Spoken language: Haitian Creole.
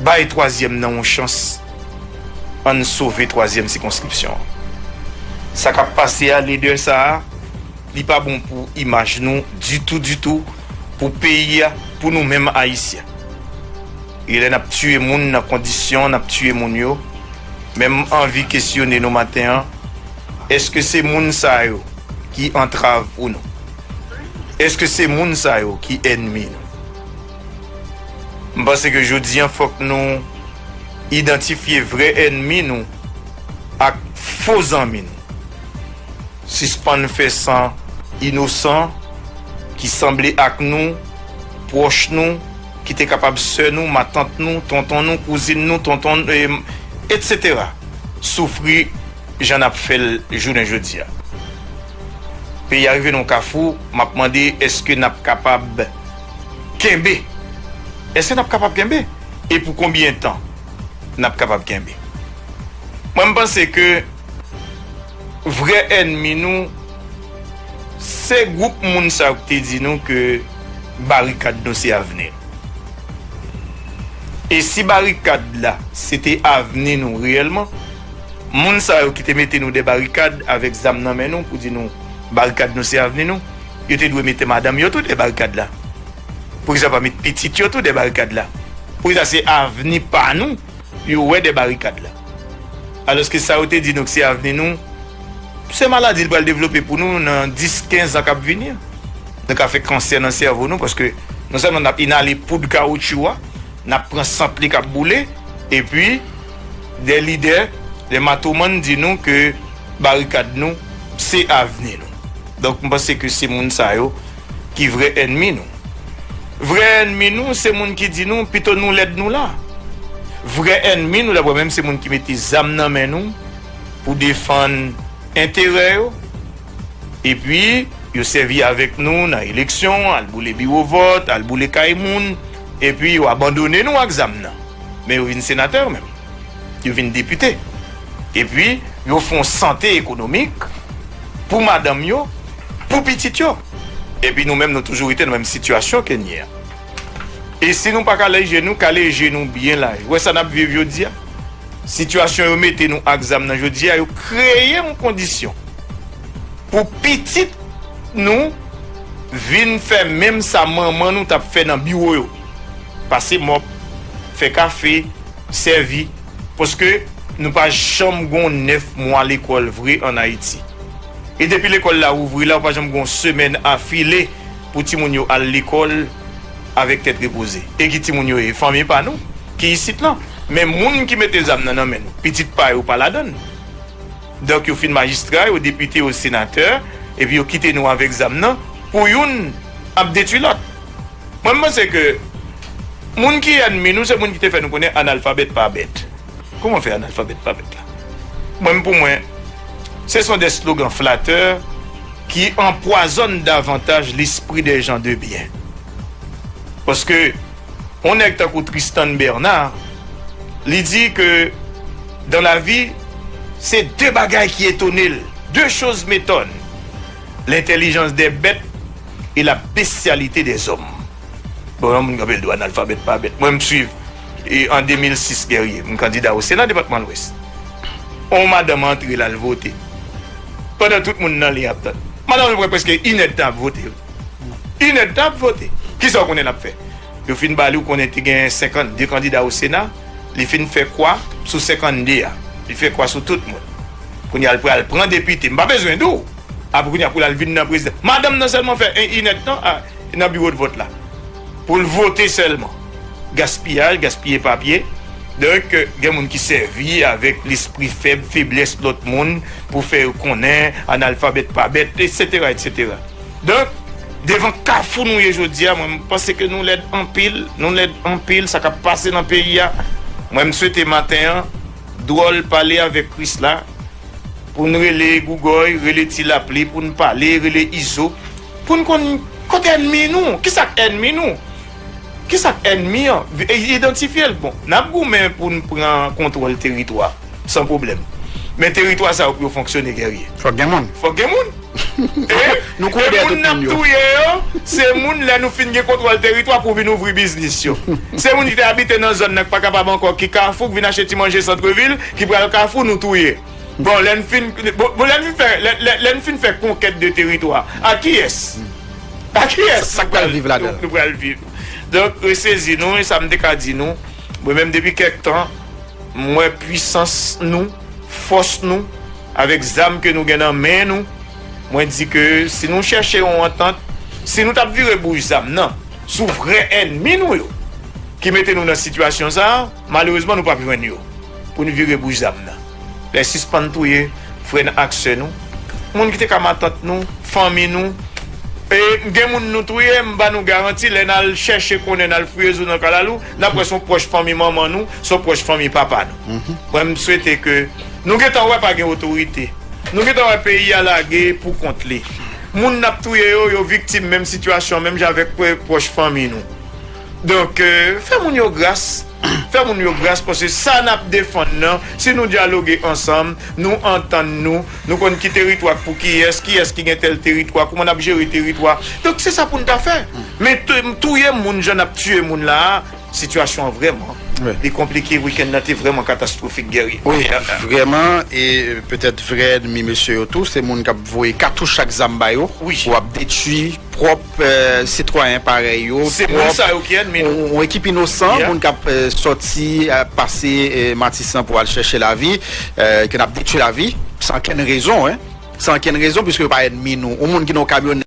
Bay twazyèm nan yon chans ann sove twazyèm sikonskripsyon an. Sa kap pase a lede sa a li pa bon pou imaj nou ditou ditou pou peyi a pou nou menm ayisyen. E lè nap tiye moun nan kondisyon nap tiye moun yo men m anvi kesyone nou maten an eske se moun sa yo ki antrav pou nou? Eske se moun sa yo ki ènmi nou? M panse ke jodi an fòk nou idantifye vrè ènmi nou ak fo zanmi nou. Sispann fè san inosan ki sanble ak nou, pwòch nou, ki te kapab sè nou, matant nou, tonton nou, kouzin nou, tonton n, etc. Soufri jan n ap fè l jounen jodi a. Peyi a rive nan yon kafou, m ap mande èske n ap kapab. Kenbe! Èske n ap kapab kenbe? E pou konbyen tan n ap kapab kenbe? Mwen m panse ke vrè ènmi nou se gwoup moun sa yo ki te di nou ke barikad nou se avni nou. E si barikad la se te avni nou reyèlman, moun sa yo ki te mete nou dè barikad avèk zam nan men nou pou di nou barikad nou se avni nou, Yo te dwe mete madanm yo tou dè barikad la. Poukisa pa met pitit yo tou dè barikad la? Poukisa se avni pa nou yo wè dè barikad la? Alòske sa yo te di nou k se avni nou, se maladi l pral devlope pou nou nan 10, 15 an k ap vini an. Nou ka fè kansè nan sèvo nou paske non sèlman n ap inale poud kawotchou a, n ap pran sant li k ap boule, epi dè lidè, dè matomann di nou ke barikad nou se avni nou. Donk m panse ke se moun sa yo ki vrè ènmi nou. Vrè ènmi nou se moun ki di nou pito nou lèd nou la. Vrè ènmi nou daprè mwen se moun ki mete zam nan men nou pou defann enterè yo epi yo sèvi avèk nou nan eleksyon, al boule biwo vòt, al boule kay moun epi yo abandone nou ak zam nan men yo vin senatè yo menm. Yo vin depite. Epi yo fon sante ekonomik. pou madanm yo, pou pitit yo. Epi nou menm nou toujou rete nan menm sitiyasyon ke n ye a. E si nou pa kale je nou, kale je nou byen laj. Ou wè sa n ap viv jodi a? Sitiyasyon yo mete nou ak zam nan jodi a, yo kreye yon kondisyon pou pitit nou vin fè menm sa manman nou t ap fè nan biwo yo, pase mòp, fè kafe, sèvi. Paske nou pa janm gon 9 mwa lekòl vre an Ayiti. E depi lekòl la ouvri la ou pa janm gon semèn afile pou timoun yo al lekòl avèk tèt repoze. E ki timoun yo ye? Fanmi pa nou ki isit lan. Men moun ki mete zam nan nan men nou. Pitit pa yo pa ladann. Donk yo fin majistra, yo depite, yo senatè, epi yo kite nou avèk zam nan pou youn ap detwi lòt. Mwen m panse ke moun ki ènmi nou se moun ki te fè nou konnen analfabèt pa bèt. Kouman fè analfabèt pa bèt la? Mwen m pou mwen se son dè slogan flatè ki anpwazòn davantaj lespri dè jan de byen. Paske. Yon nèg tankou Tristan Bernard, li di ke dan la vi, se de bagay ki etone l, de choz metòn, lentèlijans dè bèt e la bestyalite dè zòm. Bon, yon moun kanpe l di w analfabèt pa bèt. Mwen m swiv e an 2006 Guerrier, m kandida o sena depatman lwès, yon madanm antre l al vote, pandan tout moun nan liy ap tann. Madanm lan pran prèske inèdtan ap vote. Inèd tan ap vote. Kisa ou konnen l ap fè? Yo fin ba li ou konnen te gen 52 kandida o sena, li fin fè kwa sou 52 a. Li fè kwa sou tout moun. Kounye a l pral pran depite. M pa bezwen di w. Apre kounye a pou l al vin nan prezidan. Madanm nan sèlman fè 1 inèd tan a nan biwodvòt la. Pou l vote sèlman. Gaspiyaj, gaspiye papye. Donk gen moun ki sèvi avèk lespri fèb, feblès lòt moun pou fè yo konnen analfabèt pa bèt, eksetera, eksetera. Donk, devan kafou nou ye jodi a, mwen panse ke nou lèd anpil, nou lèd anpil, sa k ap pase nan peyi a, mwen m swete maten an, Dwòl pale avèk Krisla, pou n rele Gougòy, rele Ti Lapli, pou n pale, rele Izo, pou n konn kote ènmi nou, ki sa k ènmi nou, ki sa k ènmi an, idantifye l. Bon, n ap goumen pou n pran kontwòl teritwa, san pwoblèm, men teritwa sa yo pou yo fonksyone, Guerrier. Fòk gen moun. Fòk gen moun. E moun n ap touye yo, se moun lè nou fin gen kontwòl teritwa pou vin ouvri biznis yo. Se moun ki te abite nan zòn nan ki pa kapab ankò, ki kafou, ki vin achte ti manje santrevil, ki pral kafou, nou touye. Bon, lè n fin, bon, lè n fin fè, lè n fin fè konkèt de teritwa, ak kiyès? Ak kiyès nou pral viv ladan l? Nou pral viv. Donk, resezi nou, e sa m te ka di nou, mwen menm depi kèk tan, m wè pwisans nou, fòs nou. Avèk zam ke nou gen nan men nou, mwen di ke si nou chèche yon antant, si nou tap vire bouch zam nan sou vrè ènmi nou yo ki mete nou nan sitiyasyon sa, malerezman nou pap jwenn yo pou nou vire bouch zam nan. Lè sispann touye frè n ak sè nou, moun ki te ka matant nou, fanmi nou, e gen moun nou touye, m ba nou garanti lè n al chèche konnen, n al fouye zo nan kalalou, nap wè son pwòch fanmi manman nou, son pwòch fanmi papa nou. Mwen m swete ke. Nou gentan wè pa gen otorite. Nou gentan wè peyi a lage pou kont li. Moun nap touye yo, yo viktim menm sitiyasyon menm jan avèk pwòch fanmi nou. Donk, fè moun yo gras. Fè moun yo gras paske sa nap defann nan, si nou dyaloge ansanm, nou antann nou, nou konn ki teritwa k pou kiyès, kiyès ki gen tèl teritwa, kouman nap jere teritwa. Donk se sa pou n ta fè. Men touye moun jan nap tiye moun la a. Sitiyasyon an vrèman li konplike wikenn nan te vrèman katastwofik Guerrier. Wi vrèman e petèt vrè ènmi mesye yo tou se moun k ap voye katouch ak zam ba yo pou ap detui pwòp sitwayen parèy yo pwòp yon ekip inosan moun k ap sòti pase matisan pou al chèche lavi ke n ap detui lavi san ankenn rezon san ankenn rezon pwiske yo pa ènmi nou yon moun ki nan yon kamyonèt.